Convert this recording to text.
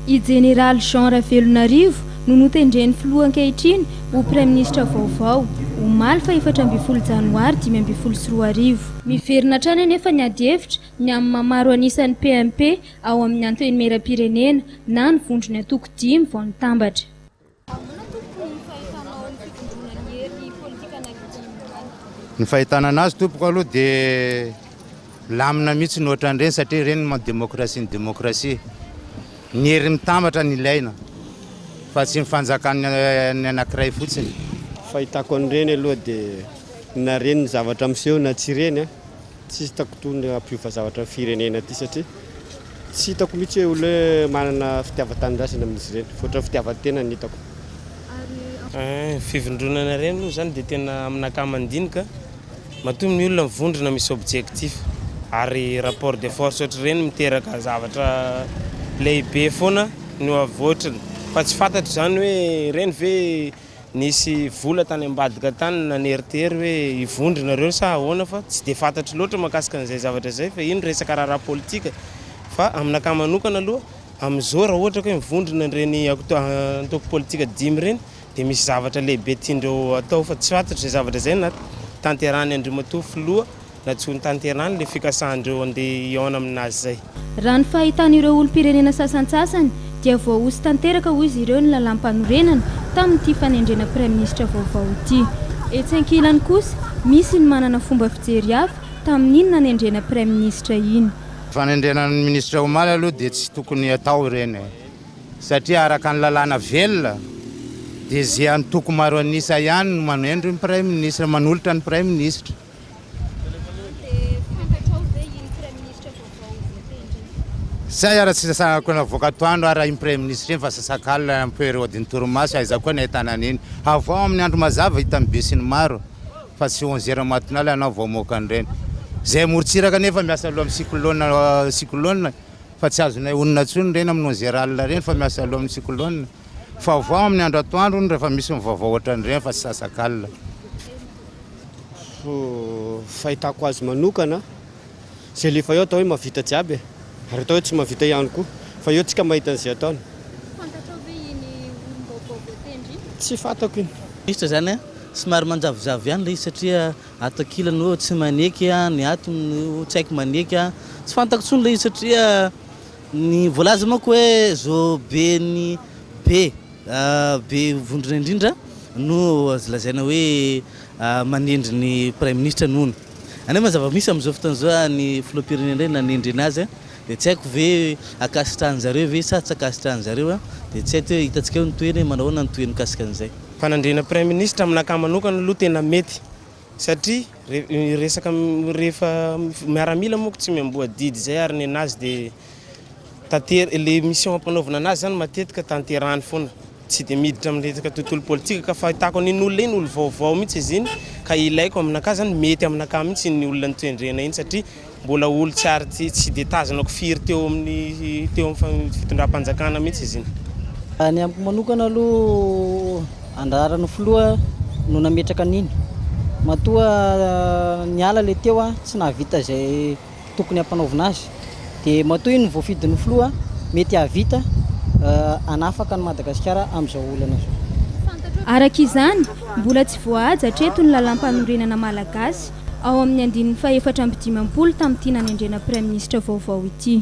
I Jeneraly Jean Ravelonarivo no notendren'ny filoha ankehitriny ho praiminisitra vaovao, omaly fahefatra ambin'ny folo janoary dimy ambin'ny folo sy roa arivo. Miverina hatrany anefa ny adihevitra ny amin'ny maha maro an'isa ny PMP ao amin'ny Antenimierampirenena na ny vondron'ny antoko dimy vao nitambatra. Ahoana tompoko ny fahitanao ny fitomboana ny hery politika an'Haiti izany? Ny fahitana anazy tompoko aloha dia milamina mihitsy ny ohatran'ireny satria ireny no maha demokrasia ny demokrasia. Ny hery mitambatra no ilaina fa tsy ny fanjakan'ny anankiray fotsiny. Fahitako an'ireny aloha dia na reny ny zavatra miseho na tsy reny. Tsy hitako toa ny hampiova zavatra ny firenena ity satria tsy hitako mihitsy hoe olona hoe manana fitiavan-tanindrazana amin'izy ireny, ohatrany fitiavan-tena ny hitako. Ny fivondronana ireny aloha izany dia tena amina ankamaroany ka matoa ny olona mivondrona misy objectif ary rapport de force ohatr'ireny miteraka zavatra lehibe foana no avotriny fa tsy fantatro izany hoe ireny ve Nisy vola tany ambadika tany naneritery hoe hivondro nareo sa ahoana fa tsy dia fantatro loatra mahakasika an'izay zavatra izay fa iny resaka raharaha politika fa amin'akahy manokana aloha amin'izao raha ohatra ka hoe mivondrona ireny antoko politika dimy ireny dia misy zavatra lehibe tiandreo atao fa tsy fantatro izay zavatra izay na tanterahany Andriamatoa Filoha Na tsy ho notanterahany ilay fikasahan'ireo handeha hihaona amin'azy izay. Raha ny fahitan'ireo olom-pirenena sasantsasany dia voahoso tanteraka hoy izy ireo ny lalàmpanorenana tamin'ity fanendrena praiminisitra vaovao ity. Etsy ankilany kosa, misy ny manana fomba fijery hafa tamin'iny nanendrena praiminisitra iny. Ny fanendrena ny minisitra omaly aloha dia tsy tokony hatao ireny e! Satria araka ny lalàna velona dia ze antoko maro an'isa ihany no manendry ny praiminisitra, manolotra ny praiminisitra. Zay ara tsy sasana koa navoaka atoandro ara iny premier ministre iny fa sasakalina un peu ireo diny torimaso aiza koa ny ahitana an'iny havao amin'ny andro mazava hita ny bus ny maro fa tsy onze heure matinale ianao vao mamoaka an'ireny zay morontsiraka nefa miasa aloha amin'ny cyclone cyclone fa tsy azonay honina tsony ireny amin'ny onze heure alina ireny fa miasa aloha amin'ny cyclone fa havao amin'ny andro atoandro hono rehefa misy ny vaovao ohatran'ireny fa tsy sasakalina Fahitako azy manokana, izay alefa eo atao hoe mahavita jiaby e, ary atao hoe tsy mahavita ihany koa, fa eo tsika mahita an'izay ataony. Fantatrao ve iny olom-baovao voatendry iny? Tsy fantako iny. Minisitra izany a, somary manjavozavo ihany ilay izy satria ato ankilany hoe tsy maneky, ny ato tsy haiko maneky, tsy fantako intsony ilay izy satria ny voalaza manko hoe zo be ny be. Be vondrona indrindra no azo lazaina hoe manendry ny Praiminisitra ny hono. Any moa zava-misy amin'izao fotoana izao ny Filoham-pirenena indray nanendry anazy dia tsy haiko ve ankasitrahan'ny zareo ve sa tsy ankasitrahan'ny zareo dia tsy haiko hoe hitantsika eo ny tohiny hoe manao ahoana ny tohiny mikasika an'izay. Fanendrena Praiminisitra aminakahy manokana aloha tena mety satria resaka rehefa miaramila moa tsy miamboa didy izay ary ny anazy dia Tanter- le mission ampanaovina anazy zany matetika tanterahany foana. Tsy dia miditra amin'ny resaka tontolo politika ka fahitako an'iny olona iny olo vaovao mihitsy izy iny ka ilaiko aminakahy zany mety aminakahy mihitsy iny olona notendrena iny satria mbola olo tsy ary tsy tsy dia tazanako firy teo amin'ny teo amin'ny fa- fitondram-panjakana mihitsy izy iny. Raha ny amiko manokana aloha andraran'ny filoha no nametraka an'iny. Matoa niala le teo an, tsy nahavita izay tokony hampanaovina azy dia matoa iny voafidin'ny filoha mety hahavita hanafaka an'i Madagasikara amin'izao olana izao. Araka izany, mbola tsy voahaja hatreto ny Lalàmpanorenana malagasy ao amin'ny andininy fahefatra amby dimampolo tamin'ity nanendrena Praiminisitra vaovao ity.